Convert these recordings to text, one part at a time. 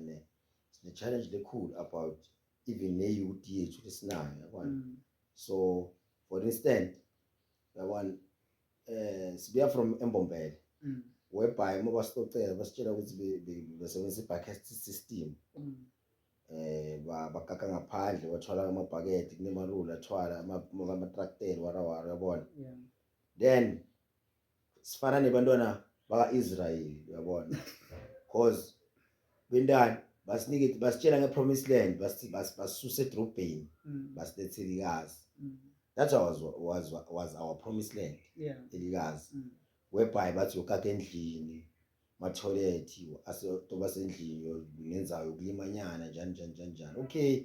ne sine challenge lekhulu about even ne youth yethu lesinayo yabona mm. so for instance yabona eh sibuya from embombele mm. whereby uma basitocela basitshela ukuthi besebenzisa i-bucket system mm. eh bakaka ngaphandle wathwala amabhakede kunemarula athwala amatrakteli warawara yabona then sifana nebantwana baka-israyeli uyabona cause bentani basinike basitshela nge-promise land basisuse edrobheni mm. basilethe elikazi mm. that's was, was, was our promise land elikazi mm. whereby bathi yokaka endlini matholethi aseyoba sendlini ngenzayo ukulima nyana njani njani njani njani okay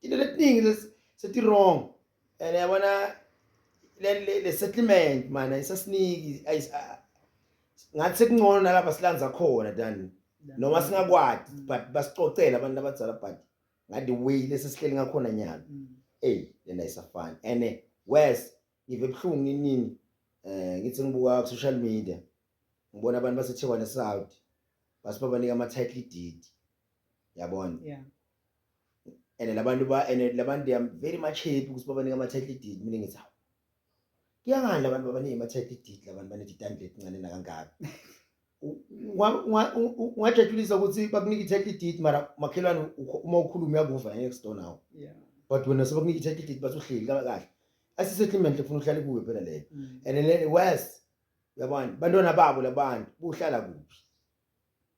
tilo letiningi seti-wrong and yabona le-settlement mana isasiniki ngathi sekungcono nalapha silandza khona than noma singakwati mm. but basicocela abantu abadzala but ngathi way lesesihleli ngakhona nyalo mm. eyi lena isafani and eh, wes ngive ebuhlungu ninini um eh, ngithi ngibuka ku-social media ngibona abantu basethewane south basibabanika ama-title deed yabona yeah and labantu ba and labantu they are very much happy ukuthi babanika ama title deed mina ngithi hawu kuyangani labantu babanika ama title deed labantu banedidane letincane nakangaka ungajatshulisa ukuthi bakunika i-title deed mara makhelwane uma ukhuluma uyakuva next door nawo yeah but wena sebakunika i-title deed bathi uhleli kahle asisettlement lefuna uhlale kuwe phela leyo mm. and then worse uyabona bantwana babo labantu buhlala kuphi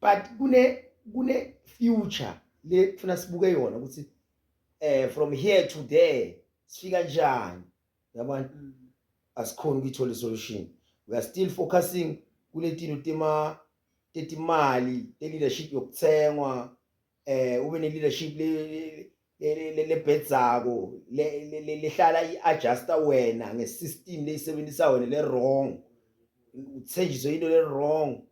but kune kune future le kufuna sibuke yona ukuthi eh from here to there sifika njani yabona mm. asikhona ukuyithola isolution we are still focusing kuletino tema tetimali te leadership yokuthengwa eh ube ne leadership le lebhedzako lehlala i-adjusta wena nge-system leyisebenzisa wena le-wrong uthenjiswe into le-wrong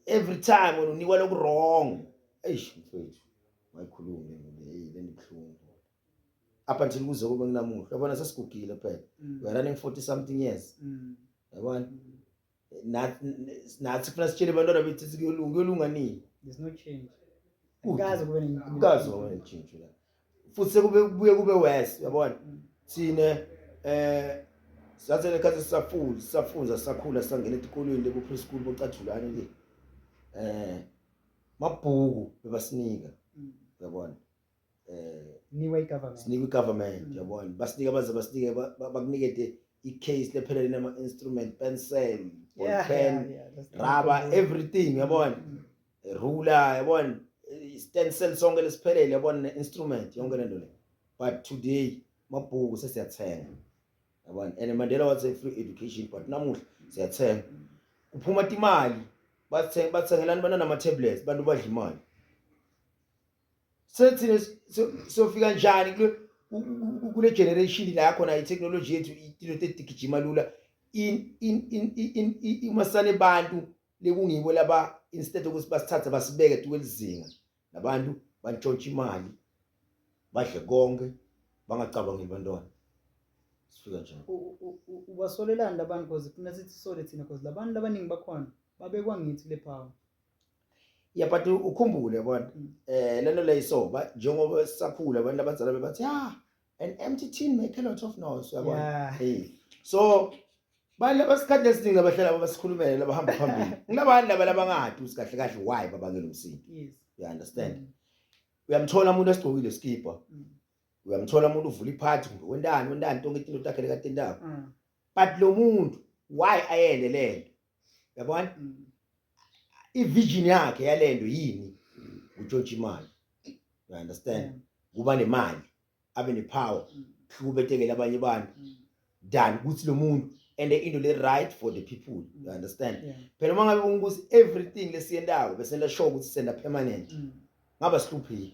every time wena unikwa loku-wrong eish mfethu mayikhulume le ndibuhlungu up until kuze kube kunamuhla yabona sesigugile phela mm. we are running 40 something years mm. yabona mm. nathi funa sitshele abantwana bethu sithi kuyolunga kuyolunga nini there's no change kaze kube kaze kube netshintsho la futhi sekube kubuye kube worse uyabona mm. thina eh sathe lekhathi sisafunda sisafunza sakhula sangena etikolweni lebo preschool bocatshulane le eh mabhuku bebasinika mm. uyabona eh niwe igovernment sinikwe igovernment mm. yabona basinike abaze basinike bakunikede i-case lephelele nama instrument pencil ball yeah, pen yeah, yeah, rubber everything yabona mm. ruler yabona stencil sonke lesiphelele yabona ne instrument yonke lento le but today mabhuku sesiyathenga yabona and Mandela was a free education but namuhla siyathenga kuphuma imali bathenga bathengelani banana ama tablets bantu badla imali sethina sofika njani kule kule generation la khona itechnology yethu into edigijima lula in in in in uma sale bantu lekungibo laba instead ukuthi basithathe basibeke tukwelizinga nabantu bantshontsha imali badle konke bangacabangeli bantwana sifika njani ubasolelani labantu because kunethi sisole thina because labantu labaningi bakhona babekwa ngithi le power ya but ukhumbule yabona eh lento le isoba njengoba sisakhula abantu abazalwa bebathi ah an empty tin make a lot of noise yabona Yeah. hey so bani abasikhathi esiningi abahlala basikhulumele labahamba phambili kunabani laba labangadi usi kahle kahle why babangela umsindo Yes. you understand Mm. uyamthola umuntu esigqokile isikibha Mm. uyamthola umuntu uvula iphathi kumbe wentani wentani tonke itinto takhe lekatentako Mm. but lo muntu why ayele lento yabona ivision yakhe yalento yini utshontsha imali you understand kuba nemali abe nepower hlukubetekele abanye abantu than ukuthi lo muntu and into le right for the people you understand phela uma ngabe ungukuthi everything lesiyentayo besenta sure ukuthi senda permanent ngaba sihlupheki